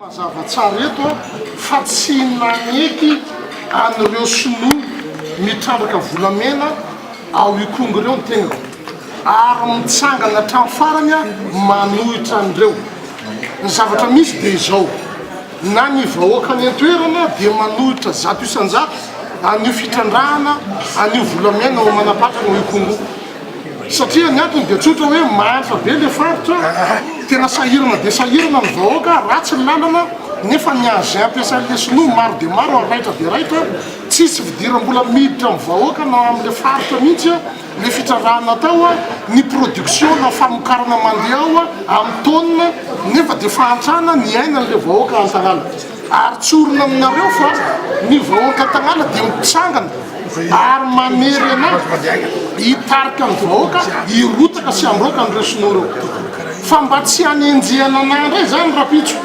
Mazava tsara eto fa tsy naneky an'ireo sinoa mitrandraka volamena ao Ikongo ireo ny tenako ary mitsangana hatramin'ny farany aho manohitra an'ireo. Ny zavatra misy dia izao, na ny vahoaka any an-toerana dia manohitra zato isan-jato an'io fitrandrahana an'io volamena ao Manapatrana ao Ikongo io. Satria ny antony dia tsotra hoe mahantra be ilay faritra, tena sahirana dia sahirana ny vahoaka, ratsy ny lalana, nefa ny engins ampiasain'ilay sinoa maro dia maro ary raitra dia raitra, tsisy fidiram-bola miditra amin'ny vahoaka na amin'ilay faritra mihitsy ilay fitrarahana atao, ny production na famokarana mandeha ao amin'ny taonina nefa dia fahantrana ny ainan'ilay vahoaka an-tanàna. Ary tsorina aminareo fa ny vahoaka tanàna dia mitsangana ary manery anà hitarika ny vahoaka hirotaka sy handroaka an'ireo sinoa ireo. Fa mba tsy hanenjehana anà indray izany rapitso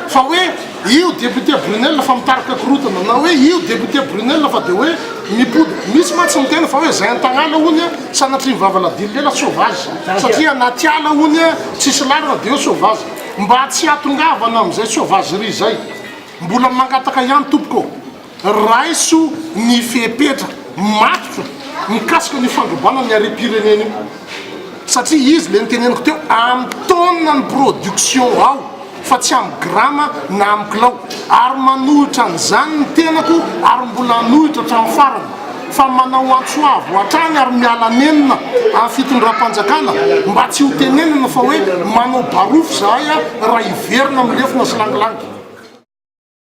fa hoe io député Brunelle fa mitarika korotana na hoe io député Brunelle fa dia hoe mipody. Misy mantsy miteny fa hoe izay an-tanàna honia sanatrian'i Vavaladia Lela sauvage satria anaty ala honia tsisy lalana dia hoe sauvage. Mba tsy hatongavana amin'izay sauvagerie izay, mbola mangataka ihany tompoko ô, raiso ny fepetra matotra mikasika an'io fandrobana ny harem-pirenena io, satria izy ilay noteneniko teo, amin'ny tonne ny production ao fa tsy amin'ny grama na amin'ny kilao, ary manohitra an'izany ny tenako ary mbola hanohitra hatramin'ny farany. fa manao antso avo hatrany ary miala nenina amin'ny fitondram-panjakana mba tsy ho tenenina fa hoe manao barofo izahay raha hiverina amin'ny lefona sy langilangy.